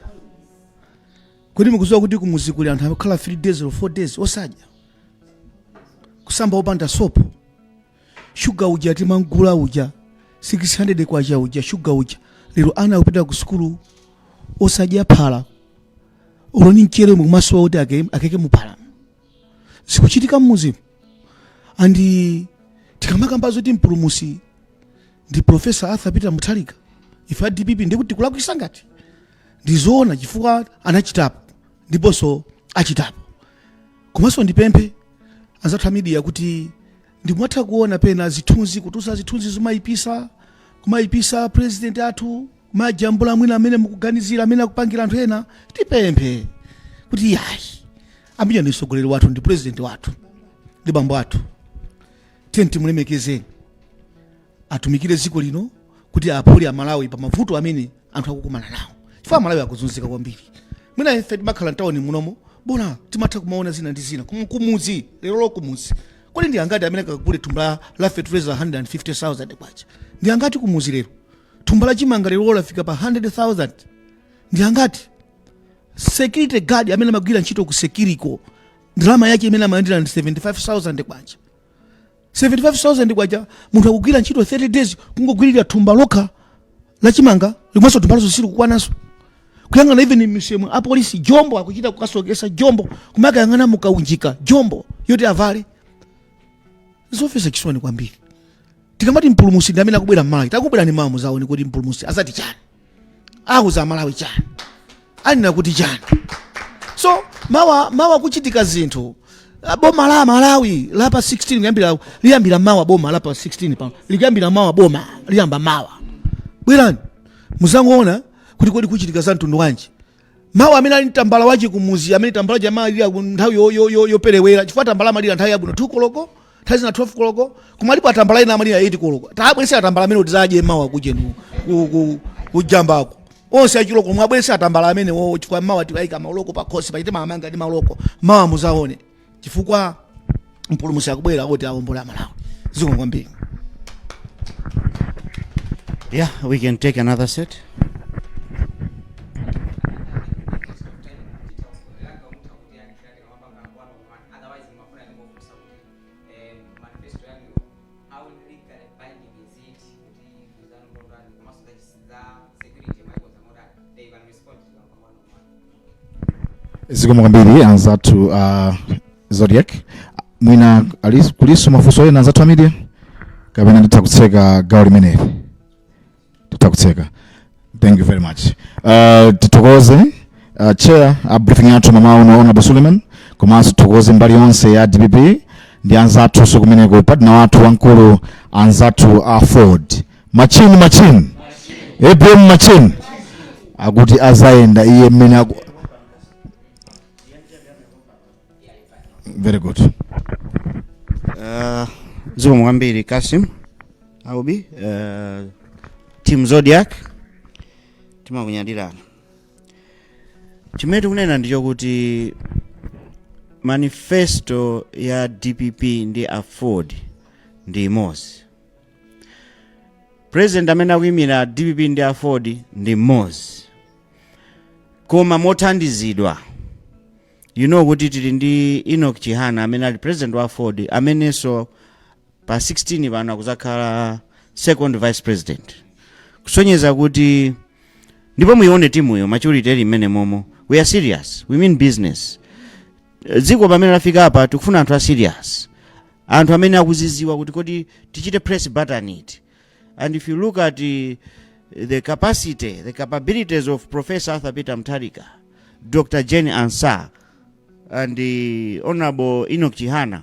kodi mukuziwa kuti kumuzi kuli anthu akukhala 3 days olo 4 days osadya kusamba opanda sopo shuga uja tinkamgula uja 600 kwacha uja shuga uja lero ana akupita ku sukulu osadya phala uloni mchere omwe kumasowa kuti ake- akeke muphala zikuchitika m'mudzimu ndiye tikamakamba zoti mpulumusi ndi profesa arthur peter mutharika ife a dpp ndikuti tikulakwisa ngati ndizoona chifukwa anachitapo ndiponso achitapo komanso ndipemphe anzathu a media kuti ndikumatha kuona pena zithunzi kutulutsa zithunzi zomayipisa kumayipisa president athu kumajambula mwina amene mukuganizira amene akupangira anthu ena tipemphe kuti yayi ameneyu ndi mtsogoleri wathu ndi president wathu ndi bambo athu tiyeni timulemekezeni atumikire dziko lino kuti aphule amalawi pa mavuto amene anthu akukumana nawo chifukwa amalawi akuzunzika kwambiri mwina ife timakhala mtawuni muno mobwana timatha kumaona zina ndi zina Kum- kumudzi lero lo kumudzi kodi ndi angati amene akagule thumba la- la fertilizer 150000 kwacha ndi angati kumudzi lero thumba la chimanga lero lafika pa 100000 ndi angati security guard amene amagwira ntchito ku security ko ndalama yake imene amalandira ndi 75000 kwacha 75000 kwacha munthu akugwira ntchito 30 days kungogwirira thumba lokha la chimanga mwinanso thumba lonse sili kukwananso kuyang'ana even m'misewu apolisi jombo akuchita kukasokesa jombo kumakayang'ana mukaunjika jombo yoti avale zomvetsa chisoni kwambiri tikamati mpulumusi ndi amene akubwera mmalawi tabwerani mawa muzaone kuti mpulumusi azati chani auza amalawi chani anena kuti chani so mawa mawa kuchitika zinthu Ah, boma la malawi la pa 16 kuyambira liyambira mawa boma la pa 16 paja liyambira mawa boma liyamba mawa bwerani muzangoona kuti kodi kuchitika za mtundu wanji mawa amene ali ndi tambala wache kumuzi amene tambala yo amalira nthawi yo- yo- yo- yoperewera chifukwa tambala amalira nthawi yabwino 2 koloko nthawi zina 12 koloko koma alipo atambala ena amalira 8 koloko tabweretsani atambala amenewo tizadye mawa kuja ku njambako onse a 8 koloko muwabweretse atambala amenewowo chifukwa mawa tiwaika maloko pakhosi paja timamanga ndi maloko mawa muzaone chifukwa mpulumutsi akubwera kuti awombole amalawi zikomo kwambiri Yeah, we can take another set. za security mwayikonza motani they can respond to them pang'ono mwa zikomo kwambiri anzathu uh, zodiac mwina ali- kulinso mafunso ena anzathu a media kapena titha kutseka gawo limeneli titha kutseka thank you very much uh, tithokoze uh, chair a briefing yathu mmawa uno honorable suleiman komanso tithokoze mbali yonse ya dpp ndi anzathunso kumeneko partner wathu wamkulu anzathu a aford machine machine apm machine akuti azayenda iye mmene aku very good Uh, zikomo kwambiri kasim aubi uh, team zodiac timakunyadirana chimene tikunena ndi chokuti manifesto ya dpp ndi aford ndi imodzi president amene akuyimira dpp ndi aford ndi mmodzi koma mothandizidwa you know kuti tili ndi enoch chihana amene ali president wa aford amenenso pa 16 pano akuzakhala second vice president kusonyeza kuti ndipo muyione timuyo maturity ili m'menemomo we are serious we mean business Dziko pamene lafikapa tikufuna anthu a serious. Anthu amene akuziziwa kuti kodi tichite press button iti. And if you look at the, the capacity, the capabilities of Professor Arthur Peter Mutharika, Dr. Jane Ansah and the Honorable Enoch Chihana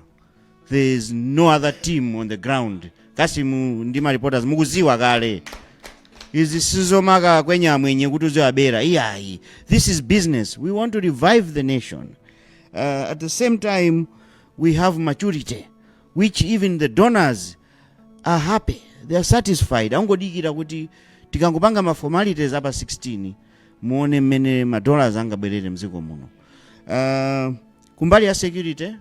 there is no other team on the ground kasimu ndi ma reporters mukuziwa kale izi sizomakakwenya amwenye kuti uziwabera iyayi this is business we want to revive the nation uh, at the same time we have maturity which even the donors are happy they are satisfied angodikira kuti tikangopanga ma formalities a pa 16 muone mmene madollars angabwerere mdziko muno uh, kumbali ya security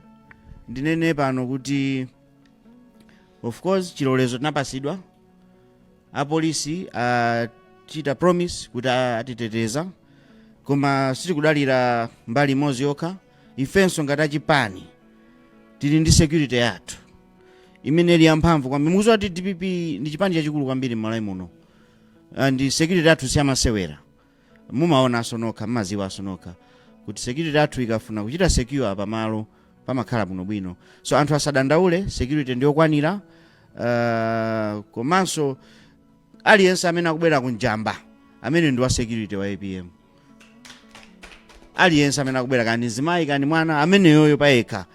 ndinene pano kuti of course chilolezo tinapasidwa apolisi achita promise kuti a- atiteteza koma sitikudalira mbali imodzi yokha ifenso ngati achipani tili ndi security yathu imene ili yamphamvu kwambiri mukuziwa kuti dpp ndi chipani chachikulu kwambiri m'malawi muno and security yathu siyamasewera mumaonanso nokha mumaziwanso nokha kuti security yathu ikafuna kuchita secure pamalo pamakhala bwinobwino so anthu asadandaule security ndiyokwanira uh, komanso aliyense amene akubwera ku njamba amene ndi wa security wa apm aliyense amene akubwera kani mzimayi kani mwana ameneyoyo payekha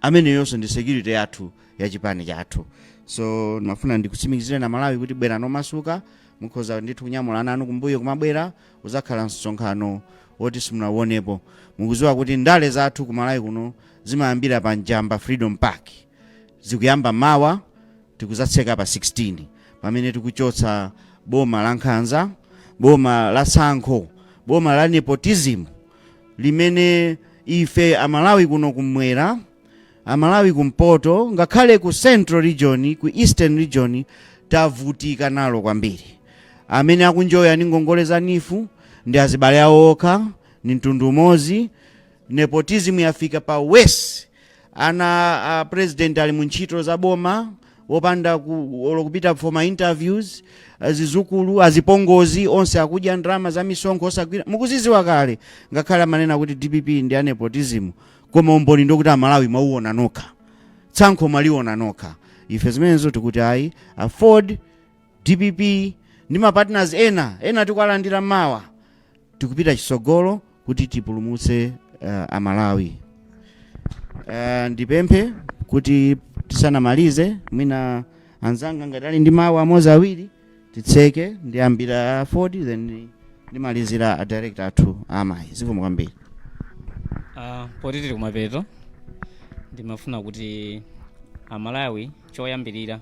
ameneyonso ndi security yathu ya chipani chathu so ndimafuna ndikutsimikizire na malawi kuti bwerani momasuka Mukhoza ndithu kunyamula ana anu kumbuyo kumabwera uzakhala msonkhano woti simunauonepo. Mukuziwa kuti ndale zathu ku Malawi kuno zimayambira pa Njamba Freedom Park. Zikuyamba mawa tikuzatseka pa 16 pamene tikuchotsa boma la nkhanza, boma la tsankho, boma la nepotism limene ife Amalawi kuno kumwera, Amalawi kumpoto ngakhale ku central region ku eastern region tavutika nalo kwambiri. Amene akunjoya ndi ngongole za NEEF ndi azibale awo okha, ndi mtundu umodzi. Nepotism yafika pa worse. Ana a president ali mu ntchito za boma opanda ku, olo kupita for ma interviews azizukulu azipongozi onse akudya ndrama za misonkho osagwira mukuziziwa kale ngakhale amanena kuti dpp ndi a nepotism koma umboni ndokuti amalawi mwawuona nokha tsankho mwaliona nokha ife zimenezo tikuti ayi aford dpp ndi mapartners ena ena tikuwalandira mawa tikupita chitsogolo kuti tipulumutse uh, amalawi uh, ndipemphe kuti tisanamalize mwina anzanga ngati ali ndi mawu amodzi awiri titseke ndiyambira aford then ndimalizira a director athu amayi zikomo kwambiri Ah, poti tili kumapeto ndimafuna kuti amalawi choyambirira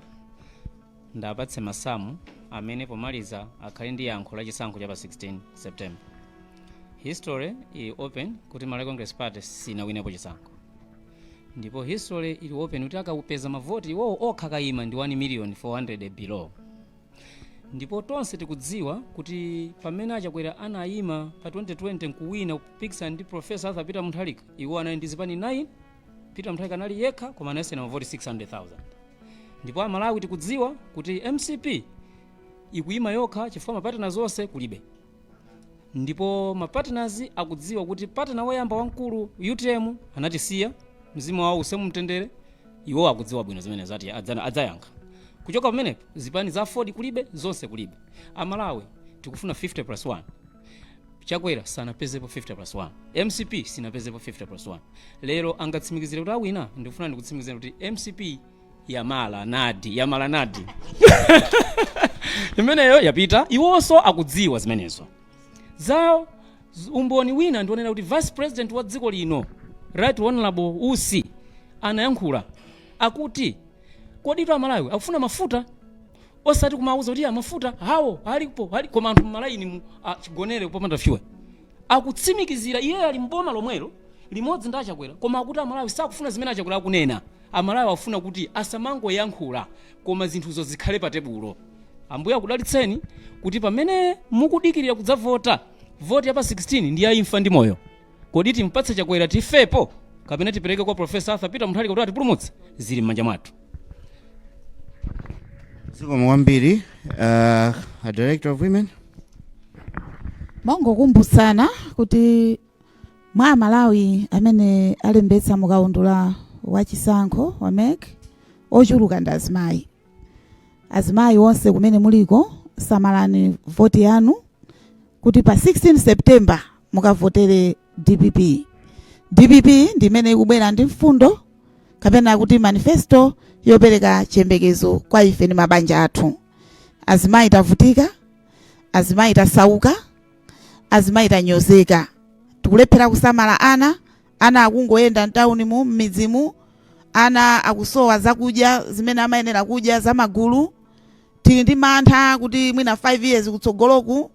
ndapatse masamu amene pomaliza akhale ndi yankho la chisankho cha pa 16 september history ili open kuti malawi congress party sinawinepo chisankho ndipo history ili open kuti akapeza mavoti iwowo okha kayima ndi 1400000 below ndipo tonse tikudziwa kuti pamene achakwera anayima pa 2020 nkuwina kupikisana ndi profesa arthur peter mutharika iwo anali ndi zipani 9 peter mutharika anali yekha koma anasiyana mavoti 600000 ndipo amalawi tikudziwa kuti mcp ikuyima yokha chifukwa mapartners onse kulibe ndipo mapartners akudziwa kuti partner woyamba wamkulu utm anatisiya mzimu wawo uuse mumtendere iwo akudziwa bwino zimene zati adzana- adzayankha kuchoka pamenepo zipani za aford kulibe zonse kulibe amalawi tikufuna 50 plus 1 chakwera sanapezepo 50 plus 1 mcp sinapezepo 50 plus 1 lero angatsimikizire kuti awina ndikufuna ndikutsimikizira kuti mcp yamala nadi yamala nadi imeneyo yapita iwonso akudziwa zimenezo zawo z- umboni wina ndionera kuti vice president wa dziko lino right honorable usi anayankhula akuti koditu amalawi akufuna mafuta osati kumawuza kuti "Ah, mafuta hawo alipo ali koma anthu mmalaini mu ah, chigonere popanda fuel akutsimikizira iye ali mboma lomwelo limodzi ndi achakwera koma akuti amalawi sakufuna zimene achakwera akunena Amalawi akufuna kuti asamangoyankhula koma zinthuzo zikhale pa tebulo. Ambuye akudalitseni kuti pamene mukudikilira kudzavota, voti ya pa 16 ndi ya imfa ndi moyo. Kodi timpatse Chakwera tifepo kapena tipereke kwa Prof. Arthur Peter Mutharika kuti atipulumutse? Zili m'manja mwathu. Zikomo kwambiri uh, a director of women Mongokumbusana kuti mwa amalawi amene alembetsa mukaundula wa chisankho wa mec ochuluka ndi azimayi azimayi onse kumene muliko samalani voti yanu kuti pa 16 september mukavotere dpp dpp ndi imene ikubwera ndi mfundo kapena kuti manifesto yopereka chiyembekezo kwa ife ndi mabanja athu azimayi tavutika azimayi tasauka azimayi tanyozeka tikulephera kusamala ana ana akungoyenda mtawunimu m'midzimu ana akusowa zakudya zimene amayenera kudya zamagulu tili ndi mantha kuti mwina 5 years kutsogoloku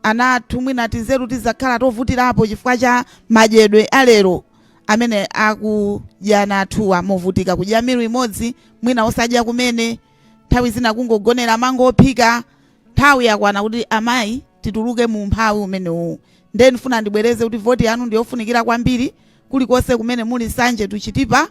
ana athu mwina tinzeru tizakhala tovutirapo chifukwa cha madyedwe alero amene akudya ana athuwa movutika kudya miru imodzi mwina osadya kumene nthawi zina kungogonera mango ophika Nthawi yakwana kuti amayi tituluke mu umphawi umenewu nde ndifuna ndibwereze kuti voti yanu ndiyofunikira kwambiri kulikonse kumene muli Nsanje to Chitipa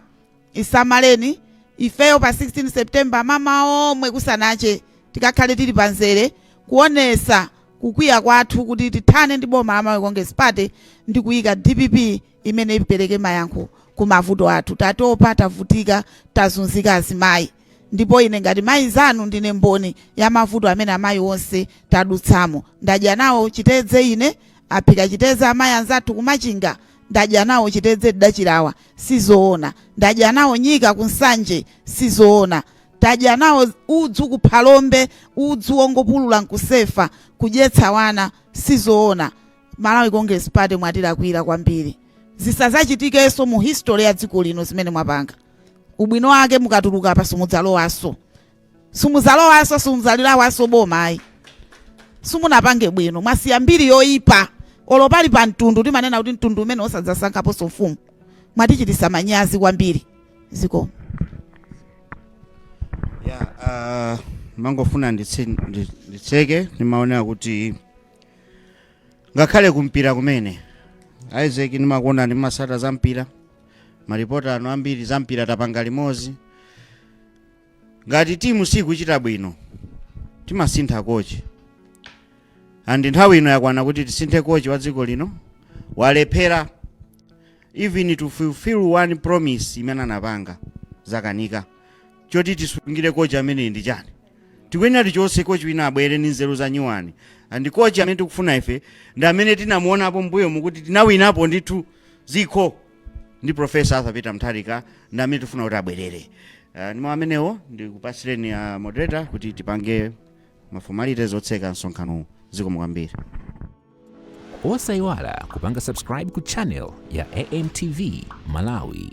isamaleni ifeyo pa 16 September m'mamawa omwe kusanache tikakhale tili pa nzere kuonesa kukwiya kwathu kuti tithane ndi boma la Malawi Congress Party ndikuyika dpp imene ipereke mayankho ku mavuto athu. Tatopa, tavutika, tazunzika azimayi, ndipo ine ngati mayi zanu ndine mboni ya mavuto amene amayi onse tadutsamo. Ndadya nawo chitedze ine, aphika chitedze amayi anzathu ku Machinga, ndadya nawo chitedze nda Chilawa, sizoona. Ndadya nawo nyika ku Nsanje, sizoona. Tadya nawo udzu ku Phalombe, udzu wongopulula nkusefa, kudyetsa wana, sizoona. Malawi congress party mwatilakwira kwambiri zisazachitikeso mu history ya dziko lino zimene mwapanga ubwino wake mukatuluka apa simudzalowaso simuzalowaso simudzalilawaso boma ayi simunapange bwino mwasiya mbiri yoyipa olo pali pa mtundu timanena kuti mtundu umeneo sadzasankhaponso mfumu mwatichitisa manyazi kwambiri zikomo ya uh, mangofuna nditse- ndi- nditseke ndimaonera kuti ngakhale kumpira kumene isaac ndimakuona m'masamba za mpira maripota anu ambiri za mpira tapanga limodzi ngati timu sikuchita bwino timasintha kochi andi nthawi ino yakwana kuti tisinthe kochi wa dziko lino walephera even to fulfill one promise imene anapanga zakanika choti tisungire kochi ameneyu ndi chani tikuyenera tichotse kochi wina abwere ndi nzeru za nyuwani and kochi amene tikufuna ife ndi amene tinamuonapo mbuyomu kuti tinawinapo ndithu zikho ndi profesa arthur peter mutharika ndi amene tifuna kuti abwerere uh, ndi mau amenewo ndikupatsireni uh, moderator kuti tipange mafomalities otseka msonkhano zikomo kwambiri osayiwala kupanga subscribe ku channel ya amtv malawi